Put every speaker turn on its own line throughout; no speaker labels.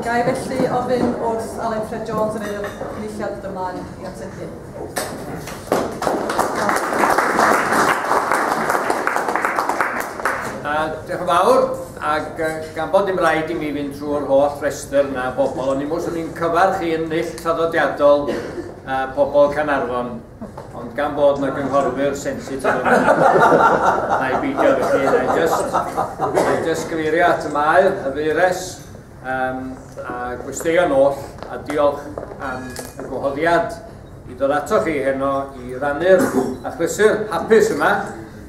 Ga i felly ofyn wrth Alun Ffred Jones yr Aelod Cynulliad ddod ymlaen i ategu.
Diolch yn fawr, ac gan bod dim rhaid i mi fynd trwy'r holl restr na bobl, ond i mwys o'n i'n cyfarch i ennill traddodiadol uh, pobl Canarfon, ond gan bod na gynghorwyr sensitif yn yna, na i beidio felly, na i just, na i just gyfeirio at y maer, y feires, Um, a gwesteion oll, a diolch am y gwahoddiad i ddod ato chi heno i rannu'r achlysur hapus yma.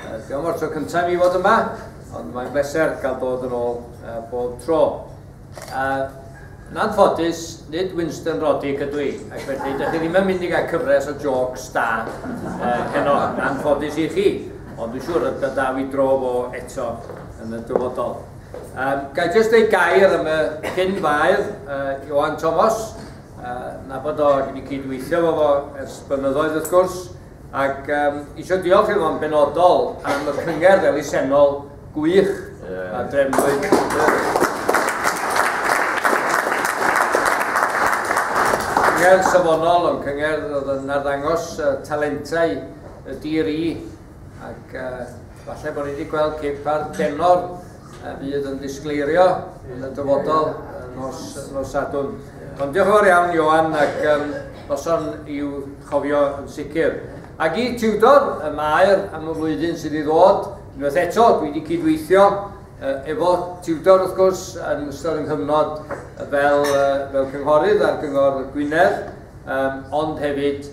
Uh, diolch o'r tro cyntaf i fod yma, ond mae'n bleser gael dod yn ôl uh, bob tro. Uh, yn anffodus, nid Winston Roddick ydw i, ac felly dych chi ddim yn mynd i gael cyfres o jokes da uh, heno, yn anffodus i chi, ond dwi'n siŵr y byddaf i dro fo eto yn y dyfodol. Um, Gael jyst ei gair am y cyn faedd, uh, Johan Thomas, uh, na bod o, dwi wedi cydweithio fo fo ers blynyddoedd wrth gwrs, ac um, eisiau diolch i fo'n benodol am y cyngerdd elusennol gwych yeah. a drefnwyd. Cyngerdd safonol, ond cyngerdd oedd yn arddangos uh, talentau y dir i ac uh, falle bod ni wedi gweld ceipar denor y fydd yn disgleirio yn y dyfodol nos, nos Sadwn. Ond diolch yn fawr iawn, Johan, ac um, noson i'w chofio yn sicr. Ac i Tudor, y maer am y flwyddyn sydd i ddod, unwaith eto, dwi wedi cydweithio efo Tudor, wrth gwrs, yn ystod yng nghyfnod fel, fel cynghorydd ar gyngor Gwynedd, um, ond hefyd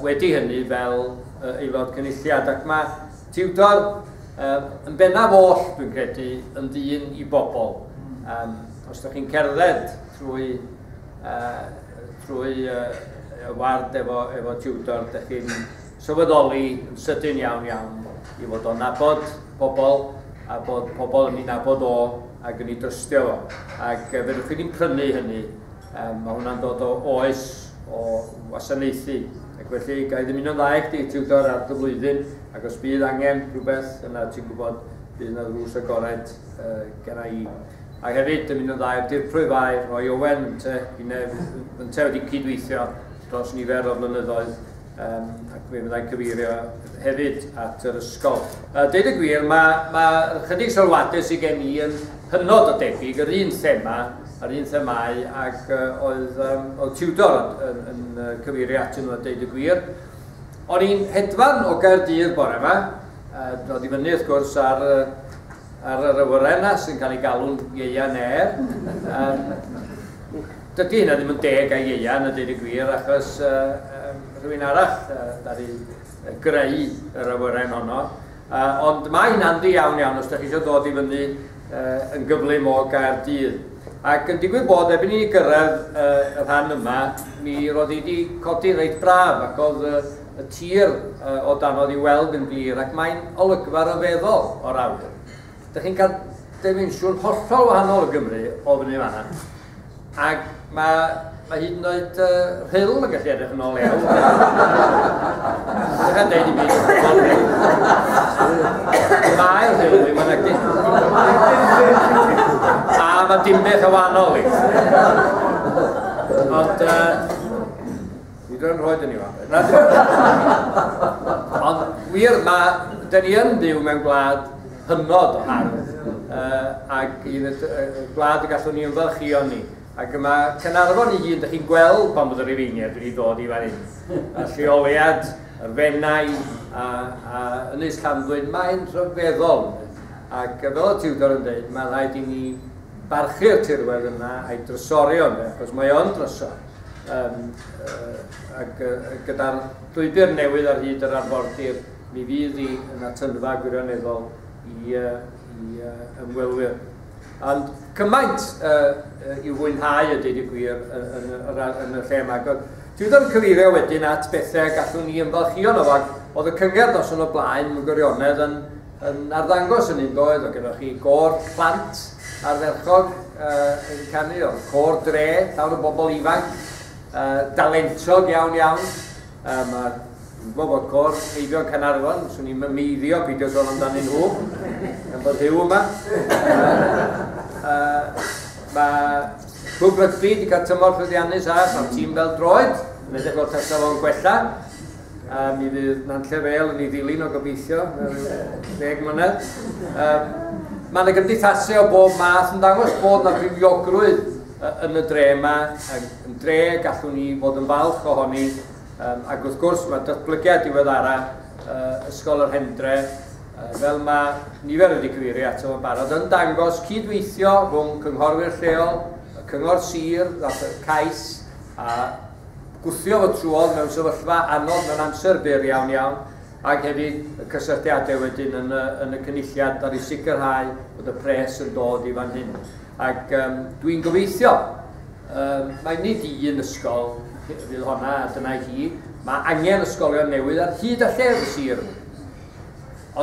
wedi hynny fel Aelod Cynulliad ac mae tiwtor yn bennaf oll, dwi'n credu, yn ddyn i bobl. Um, os ydych chi'n cerdded trwy, uh, trwy uh, y ward efo, efo tiwtor, ydych chi'n sylweddoli yn sydyn iawn iawn i fod o'n nabod pobl a bod pobl yn ei nabod o ac yn ei drystio fo. Ac fe rwy'ch chi'n prynu hynny Mae hwnna'n dod o oes o wasanaethu, ac felly ga i ddymuno dda i chdi, tiwtor, ar dy flwyddyn, ac os bydd angen rhywbeth, yna ti'n gwybod bydd yna ddrws agored uh, gen i. A hefyd, dymuno dda i'r dirprwy fai, rhoi Owen, te, i nef, yn te wedi cydweithio dros nifer o flynyddoedd Um, ac fe fyddai cyfeirio hefyd at yr ysgol. Uh, deud y gwir, mae, mae chydig sylwadau sydd gen i yn hynod o debyg yr un thema a'r un themau ac uh, oedd, um, oedd Tudor yn, yn, yn cyfeirio atyn nhw a deud y gwir. O'n i'n hedfan o Gaerdydd bore yma, uh, dod i fyny wrth gwrs ar uh, Ar yr awyrennau sy'n cael ei galw'n ieuan air, um, dydy hynna ddim yn deg a ieuan a dweud y gwir, achos um, rhywun arall uh, ddaru greu yr awyren honno. Uh, ond mae hynna'n ddi iawn iawn os da chi eisiau dod i fyny uh, yn gyflym o gair dydd. Ac yn digwydd bod, erbyn i ni gyrraedd uh, y rhan yma, mi roedd i wedi codi reit braf ac oedd uh, y tir o danodd i'w weld yn glir ac mae'n olygfa ryfeddol o'r awyr. Dych chi'n cael dimensiwn hollol wahanol o Gymru o fyny fanna. Ac mae, mae hyd yn oed uh, rhyl yn gallu edrych yn ôl iawn. Dwi'n dweud i mi, Mae'r rhyl ddim yn agdi. A mae dim beth o wahanol i. Ond uh, Nid yn rhoi dyn ni Ond wir, mae, dyn ni yn byw mewn gwlad hynod o hardd, uh, ac un y gwlad y gallwn ni ymfalchio ni. Ac yma, Cynarfon i hun, dych chi'n gweld pan bod yr Ifeiniad wedi dod i fan hyn. A lleoliad, y fennau, a, a Ynys Llanddwyn, mae'n rhyfeddol. Ac fel y tiwdor yn dweud, mae rhaid i ni barchu'r tirwedd yna a'i drysori ond, achos mae o'n drysor. um, uh, ac uh, gyda'r llwybr newydd ar hyd yr arfordir, mi fydd hi yn atynfa gwirioneddol i, uh, i uh, ymwelwyr. Ond cymaint uh, i'w fwynhau y dweud y gwir yn, yn, yn, yn y lle yma. Dwi ddim yn cyfeirio wedyn at bethau gallwn ni ymfalchio nhw, ac oedd y cyngerdd os yn y blaen yn gwirionedd yn, yn arddangos yn un doedd, o gyda chi gor plant, ardderchog yn canu, o'r côr dre, llawn o bobl ifanc, dalentog iawn iawn. Mae gwybod bod côr Eifion Canarfon, swn i'n mymeiddio peidio sôn amdanyn nhw, yn bod hyw yma. Mae Cwb Rygbi wedi cael tymor llwyddiannus a mae'r tîm fel droed, yn edrych o'r tasa fo'n gwella. a mi fydd Nantlle Fel yn ei ddilyn o gobeithio mewn deg mlynedd. Um, mae yna gymdeithasau o bob math yn dangos bod yna fywiogrwydd yn y dre yma, yn dre gallwn ni fod yn falch ohoni, um, ac wrth gwrs mae datblygiad diweddara uh, Ysgol yr Hendre, uh, fel mae nifer wedi cyfeirio ato yn barod, yn dangos cydweithio rhwng cynghorwyr lleol, y cyngor sir, y cais, a Gwthio fod Truon mewn sefyllfa anodd mewn amser byr iawn iawn ac hefyd y cysylltiadau wedyn yn y, yn y cynulliad ar i sicrhau bod y pres yn dod i fan hyn. Ac um, dwi'n gobeithio, um, mae nid i un ysgol fydd honna a dyna hi, mae angen ysgolion newydd ar hyd a llef y sir yma.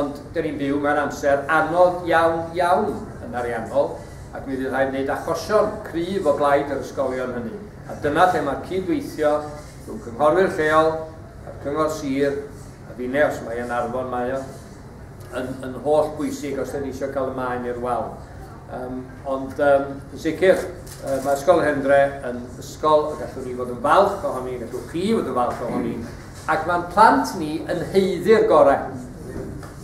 Ond dyn ni'n byw mewn amser anodd iawn iawn yn ariannol ac mi fydd rhaid wneud achosion cryf o blaid yr ysgolion hynny. A dyna lle mae'r cyd-weithio rhwng cynghorwyr lleol a'r cyngor sir, a finne os mai yn Arfon mae o, yn, yn holl bwysig os da ni eisiau cael y maen i'r wal. Um, ond um, yn sicr, uh, mae Ysgol Hendre yn ysgol y gallwn ni fod yn falch ohoni, gallwch chi fod yn falch ohoni, Ac mae'n plant ni yn haeddu'r gorau.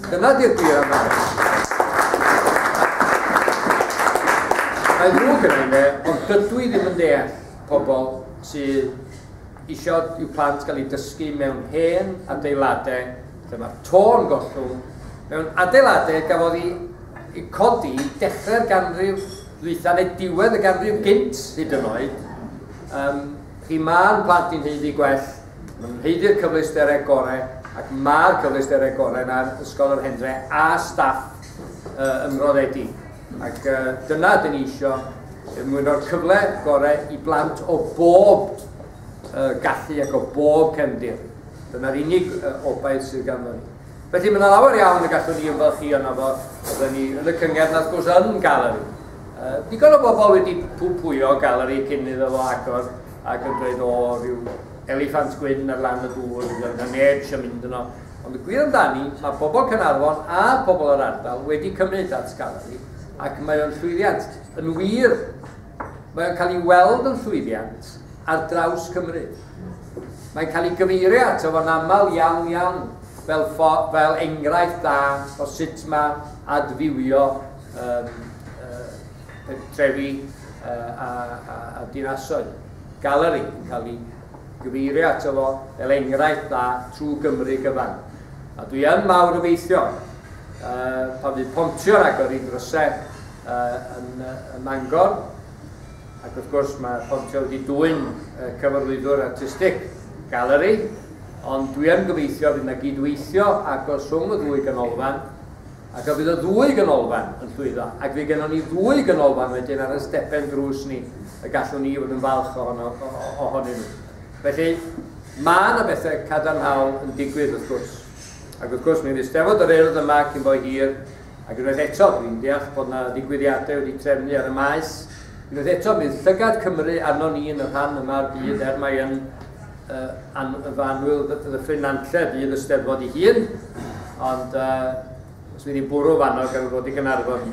Dyna di'r gwir amdano. Mae ddrwg gyda i fe, ond dydw i ddim yn deall pobl sydd eisiau i'w plant gael ei dysgu mewn hen adeiladau lle mae'r tôn gollwng, mewn adeiladau gafodd ei codi dechrau'r ganrif ddwytha neu diwedd y ganrif gynt hyd yn oed. Um, chi mae'n plant i'n heiddi gwell Nid cyfleusterau gorau ac mae'r cyfleusterau gorau na'r Ysgol yr Hendre a staff uh, ymroddedi. Ac uh, dyna dyn ni eisiau mwyn o'r cyfle gorau i blant o bob uh, gallu ac o bob cefndir. Dyna'r unig uh, obaith sydd ganddo ni. Felly mae yna lawer iawn y gallwn ni ymfalchu yna fo, oedden ni yn y cyngerdd, nath gwrs, yn galeri. Uh, digon o bobl wedi pwpwyo galeri cyn iddo fo agor, Ac yn dweud, o, rhyw eliffant gwyn ar lan y dŵr, neu na neb eisiau mynd yno. Ond y gwir amdani, mae pobl Caernarfon a pobl yr ardal wedi cymryd at Scaleri, ac mae o'n llwyddiant. Yn wir, mae o'n cael ei weld yn llwyddiant ar draws Cymru. Mae'n cael ei gyfeirio ato fo'n aml iawn iawn fel, fel enghraifft dda o sut mae adfywio um, pentrefi a dinasoedd. Galeri yn cael ei gyfeirio ato fo fel enghraifft dda trwy Gymru gyfan. A dwi yn mawr obeithio pan fydd pontio'n agor i dryse yn Mangor, ac wrth gwrs mae pontio wedi dwyn cyfarwyddwr artistig, galeri, ond dwi yn gobeithio fydd yna gydweithio agos rhwng y ddwy ganolfan, Ac a fydd y ddwy ganolfan yn llwyddo? Ac fydd gennon ni ddwy ganolfan wedyn ar ein stepen drws ni y gallwn ni fod yn falch ohono, ohonyn nhw. Felly, mae yna bethau cadarnhaol yn digwydd wrth gwrs. Ac wrth gwrs, mi fydd Steddfod yr Urdd yma cyn bo hir, ac unwaith eto, dwi'n deall bod yna ddigwyddiadau wedi trefnu ar y Maes, unwaith eto, mi fydd llygad Cymru arno ni yn y rhan yma o'r byd, er mae yn Yn annwyl ddyffryn Nantlle fydd y Steddfod ei hun, ond uh, os fydd hi'n bwrw fanno gan ddod i Gynarfon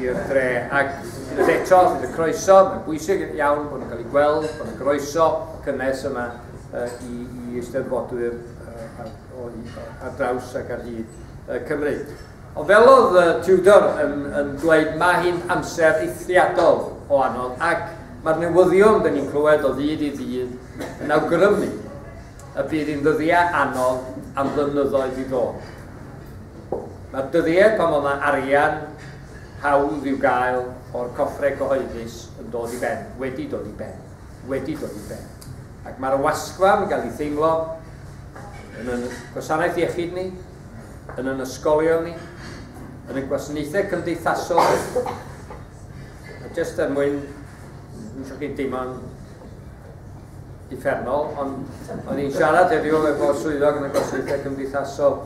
i'r dre. Ac unwaith eto, bydd y croeso, mae'n bwysig iawn bod yn cael ei gweld, bod yn groeso cynnes yma uh, i, i Eisteddfodwyr uh, ar, ar draws ac ar hyd uh, Cymru. Ond fel oedd Tudor yn yn dweud mae hi'n amser eithriadol o anodd ac mae'r newyddion dyn ni'n clywed o ddydd i ddydd yn awgrymu y bydd hi'n ddyddiau anodd am flynyddoedd i ddod. Mae'r dyddiau pan fod yna arian hawdd i'w gael o'r coffre cyhoeddus yn dod i ben, wedi dod i ben, wedi dod i ben. Ac mae'r wasgfa yn cael ei theimlo yn y gwasanaeth iechyd ni, yn yn ysgolion ni, yn y gwasanaethau cymdeithasol, a jyst er mwyn, yn siŵr chi'n deimlo'n uffernol, ond o'n i'n siarad heddiw efo swyddog yn y gwasanaethau cymdeithasol,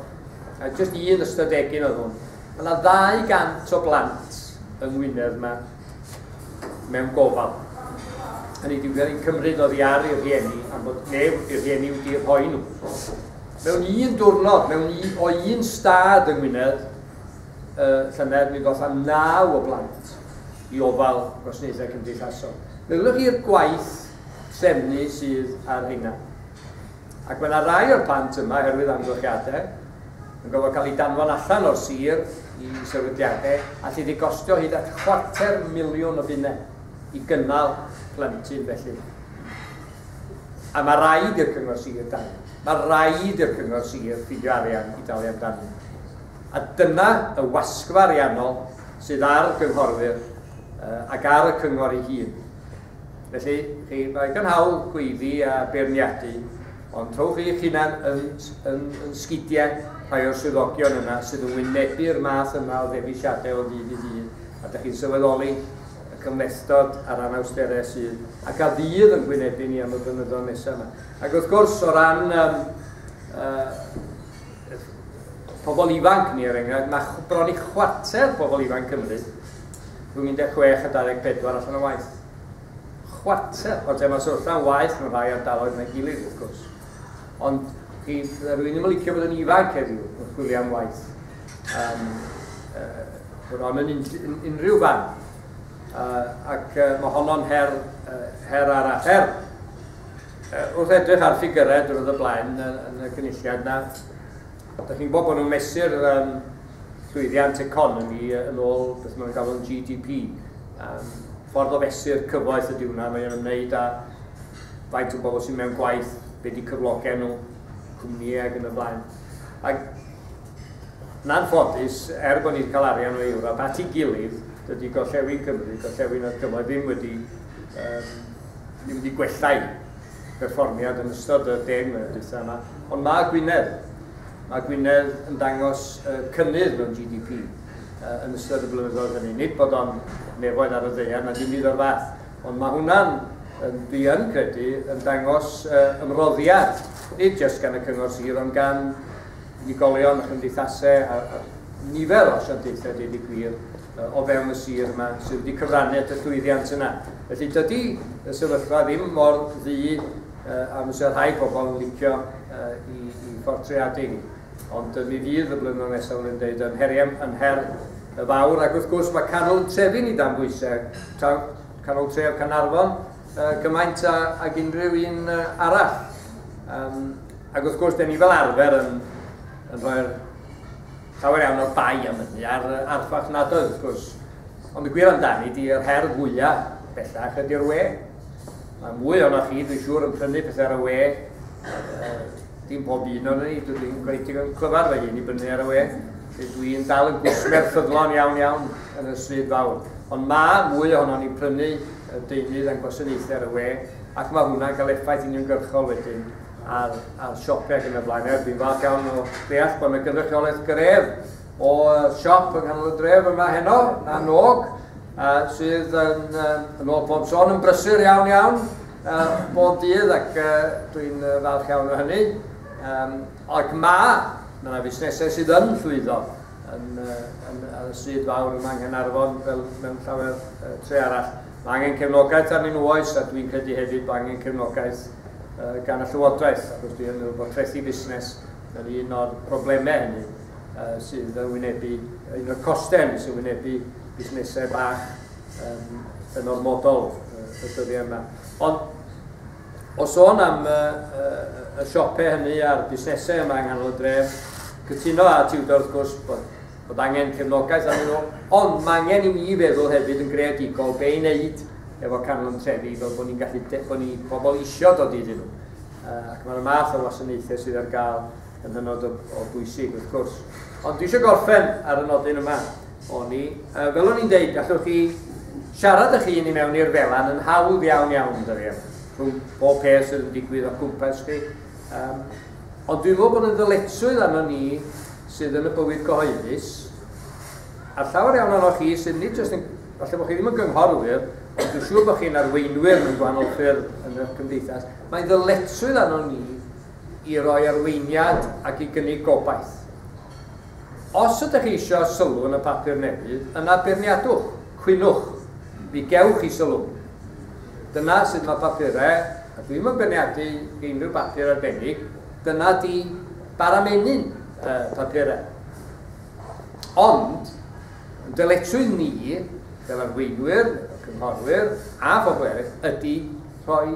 a jyst un ystod egin oedd hwn. Mae yna 200 o blant yng Ngwynedd yma mewn gofal. Yn ei diwedd yn cymryd oddi ar ei rhieni am bod neb wrthi rhieni wedi eu rhoi nhw. Mewn un diwrnod, mewn un, o un stad yng Ngwynedd, uh, llynedd mi ddoth am naw o blant i ofal gwasanaethau cymdeithasol. Meddylwch i'r gwaith trefnu sydd ar hynna. Ac mae yna rai o'r plant yma, oherwydd amgylchiadau, yn gorfod cael eu danfon allan o'r sir i sefydliadau allu di gostio hyd at chwarter miliwn o bunnau i gynnal plentyn felly. A mae rhaid i'r cyngor sir dan. Mae rhaid i'r cyngor sir ffidio arian i dalu amdano. A dyna y wasgfa ariannol sydd ar gynghorwyr ac ar y cyngor ei hun. Felly, chi, mae gan hawl gweiddi a beirniadu, ond rhowch eich hunan yn, yn, yn sgidiau rhai o'r swyddogion yna sydd yn wynebu'r math yma o ddewisiadau o ddydd i ddydd, a dych chi'n sylweddoli y cymhlethdod a'r anawsterau sydd, ac a fydd yn gwynebu ni am y blynyddoedd nesaf yma. Ac wrth gwrs, o ran um, uh, pobl ifanc ni, er enghraifft, mae bron i chwarter pobl ifanc Cymru rhwng 16 a 24 allan o waith. Chwarter o demos wrth ran waeth mewn rhai ardaloedd na'i gilydd, wrth gwrs. Ond chi, fydda rwy'n ddim yn licio bod yn ifanc heddiw wrth chwilio am waith. Um, uh, bron yn unrhyw fan. Uh, ac uh, mae honno'n her, uh, her arall. Her, uh, wrth edrych ar ffigurau drwy'r y blaen yn, yn y cynulliad yna, Dych chi'n gwybod bod nhw'n mesur um, llwyddiant economi yn ôl beth maen nhw'n galw'n GDP. Um, ffordd o fesur cyfoeth ydy hwnna, mae'n ymwneud â faint o bobl sy'n mewn gwaith, be di cyflogau nhw, cwmnïau ac yn y blaen. Ac na'n ffodus, er bod ni wedi cael arian o Ewrop at ei gilydd, dydy gorllewin Cymru, gorllewin a'r cyfoedd ddim wedi, um, ddim wedi gwellai berfformiad yn ystod y deg mlynedd diwetha' yma, ond ma' Gwynedd, ma' Gwynedd yn dangos y cynnydd mewn GDP yn ystod y blynyddoedd hynny. Nid bod o'n nefoedd ar y ddeiar na dim byd o'r fath, ond mae hwnna'n, dwi yn credu, yn dangos ymroddiad, nid jyst gan y cyngor sir, ond gan unigolion a chymdeithasau a, a nifer o asiantaethau, dweud y gwir, o fewn y sir yma sydd wedi cyfrannu at y llwyddiant yna. Felly dydy y sefyllfa ddim mor ddu a fysa rhai pobl yn licio i, i ffortreadu ni. Ond mi fydd y blynyddoedd nesaf yn dweud yn heriau yn her y fawr ac wrth gwrs mae canol trefi ni dan bwysau, canol tref Canarfon gymaint ag unrhyw un arall. Um, ac wrth gwrs, da ni fel arfer yn, yn rhoi'r Llawer iawn o'r bai am hynny, a'r archfarch nad oedd, wrth gwrs. Ond y gwir amdani di, yr her fwyaf bellach ydy'r we. Mae mwy o'na chi, dwi'n siŵr, yn prynu pethau ar y we. dim pob un o'n ni, dwi ddim gwneud digon clyfar fy hun i brynu ar y we. Dwi'n dal yn gwsmer ffyddlon iawn iawn yn y swydd fawr. Ond mae mwy ohono ni prynu y deunydd a'n gwasanaethau ar y we, ac mae hwnna'n cael effaith uniongyrchol wedyn a'r, a'r siopau ac yn y blaen. Dwi'n falch iawn o ddeall bod yna gynrychiolaeth gref o siop yng nghanol y dref yma heno, na nog, uh, sydd yn, uh, yn ôl pob son yn brysur iawn iawn uh, bob dydd ac uh, dwi'n uh, falch iawn o hynny. Um, ac mae, mae yna fusnesau sydd yn llwyddo yn, uh, yn, yn, yn sydd fawr yma yng Nghanarfon fel mewn llawer uh, tre arall. Mae angen cefnogaeth arnyn nhw oes, a dwi'n credu hefyd bod angen cefnogaeth gan y Llywodraeth, achos dwi'n meddwl bod trethi busnes yn un o'r problemau hynny sydd yn wynebu, un o'r costau sy'n wynebu busnesau bach yn ormodol y dyddiau yma. Ond O sôn am y siopau hynny a'r busnesau yma yng nghanol y dref, cytuno â Tudor wrth gwrs bod, bod angen cefnogaeth arnyn nhw, ond mae angen i ni feddwl hefyd yn greadigol be i wneud efo canol yn trefi fel bod ni'n gallu, bod ni pobl eisiau dod iddyn nhw. Ac mae'r math o wasanaethau sydd ar gael yn hynod o, o bwysig wrth gwrs. Ond dwi eisiau gorffen ar y nodyn yma o'n i. Uh, fel o'n i'n deud, gallwch chi siarad ych hun i mewn i'r felan yn hawdd iawn iawn, dyddiau, rhwng bob peth sydd yn digwydd o cwmpas chi. Um, ond dwi'n meddwl bod yn ddyletswydd arno ni sydd yn y bywyd gyhoeddus, a llawer iawn ohonoch chi sydd nid jyst yn, falle bod chi ddim yn gynghorwyr, ond dwi'n siŵr bod chi'n arweinwyr mewn gwahanol ffyrdd yn y cymdeithas, mae'n ddyletswydd arno ni i roi arweiniad ac i gynnig gobaith. Os ydych chi eisiau sylw yn y papur newydd, yna beirniadwch, cwynwch, mi gewch chi sylw. Dyna sut mae papurau, a dwi'm yn beirniadu i unrhyw bapur arbennig, dyna di bara menyn y papurau. Ond, yn dyletrwydd ni, fel arweinwyr, fel cynghorwyr a phobl eraill, ydy rhoi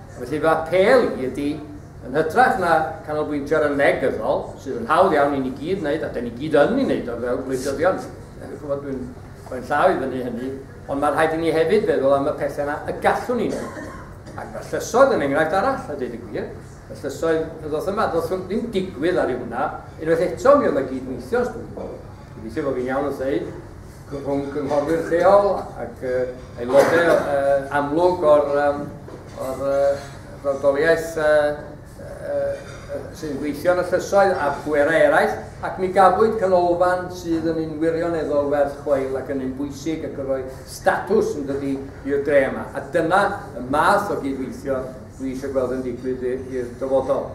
Felly fy apêl i ydy, yn hytrach na canolbwyntio ar y negyddol, sydd yn hawdd iawn i ni gyd wneud, a da ni gyd yn ei wneud o fel gwleidyddion, chymod dwi'n rhoi'n llaw i fyny hynny, ond mae rhaid i ni hefyd feddwl am y pethau yna y gallwn ni wneud. Ac mae llysoedd yn enghraifft arall, a dweud y gwir, y llysoedd y ddoth yma, ddoth hwn ddim digwydd ar ei hwnna, unwaith eto mi oedd yna gyd-weithio, dwi'n gobeithio bod fi'n iawn wrth ddeud, rhwng cynghorwyr lleol ac aelodau amlwg o'r, o'r frawdoliaeth sy'n gweithio yn y llysoedd a phwerau eraill, ac mi gafwyd canolfan sydd yn un wirioneddol werth chweil ac yn un bwysig ac yn rhoi statws yn dydy i'r dre yma. A dyna y math o gydweithio dwi eisiau gweld yn digwydd i'r dyfodol.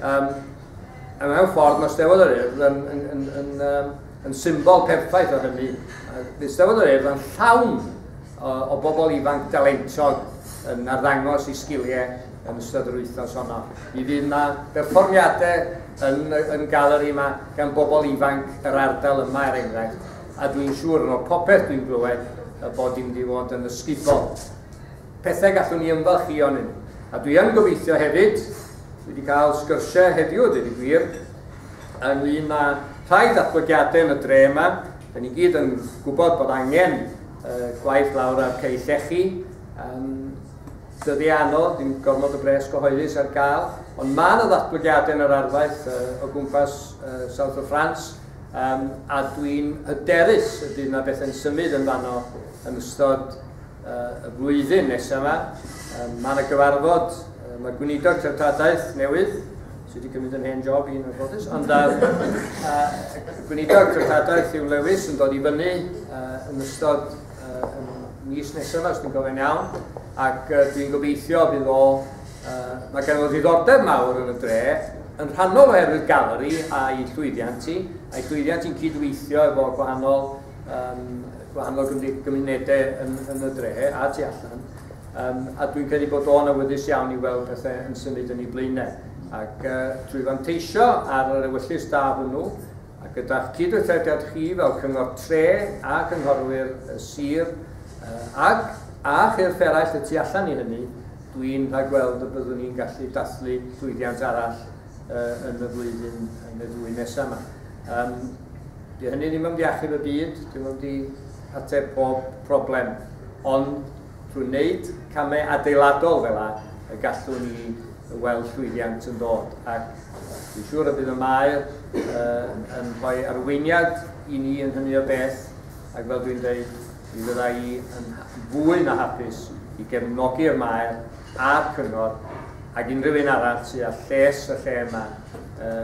Um, a mewn ffordd, mae Steddfod yr Urdd yn, yn, yn, yn, yn yn symbol perffaith o hynny, Eisteddfod yr Urdd yn llawn o, o bobl ifanc dalentog yn arddangos i sgiliau yn ystod yr wythnos honno. Mi fydd yna berfformiadau yn, yn galeri yma gan bobl ifanc yr ardal yma er enghraifft, a dwi'n siŵr yn ôl popeth dwi'n glywed bod dim di fod yn ysgubol. pethau gallwn ni ymfalchïo ynnyn nhw. A dwi yn gobeithio hefyd, dwi wedi cael sgyrsiau heddiw a dweud y gwir, ynglŷn â rhai datblygiadau yn y dre yma, da ni gyd yn gwybod bod angen uh, gwaith lawr ar cei llechi, um, dyddi anodd, dim gormod o bres gyhoeddus ar gael, ond mae yna ddatblygiadau yn yr arfaeth uh, o gwmpas uh, South of France, um, a dwi'n hyderus y bydd yna bethau'n symud yn fanno yn ystod y flwyddyn nesaf yma. Mae yna gyfarfod, mae gweinidog treftadaeth newydd, sydd wedi cymryd yn hen job i'n anffodus, ond a, a, gweinidog treftadaeth yw Lewis yn dod i fyny yn ystod mis nesaf, os dwi'n gofyn iawn, ac uh, dwi'n gobeithio bydd o, uh, mae gen o ddiddordeb mawr yn y dre, yn rhannol oherwydd galeri a'i llwyddiant i, a'i llwyddiant i'n cydweithio efo gwahanol um, gwahanol gymunedau yn, yn y dre a tu allan. Um, a dwi'n credu bod o'n awyddus iawn i weld pethau yn symud yn ei blaenau. Ac uh, drwy fanteisio ar yr ewyllus da hwnnw, a gyda'ch cydweithrediad chi fel cyngor tre a cynghorwyr y sir, uh, ac a chyrff eraill y tu allan i hynny, dwi'n rhagweld y byddwn ni'n gallu dathlu llwyddiant arall uh, yn y flwyddyn yn y ddwy nesaf yma. Um, Dyw hynny ddim am ddiachub y byd, dyw hwnnw ddim yn mynd i ateb pob problem, ond trwy wneud camau adeiladol fel yna y gallwn ni weld llwyddiant yn dod, ac dwi'n siŵr y bydd y Maer uh, yn rhoi arweiniad i ni yn hynny o beth, ac fel dwi'n dweud, mi fydda i yn fwy na hapus i gefnogi'r Maer a'r Cyngor ac unrhyw un arall sydd â lles y lle yma uh,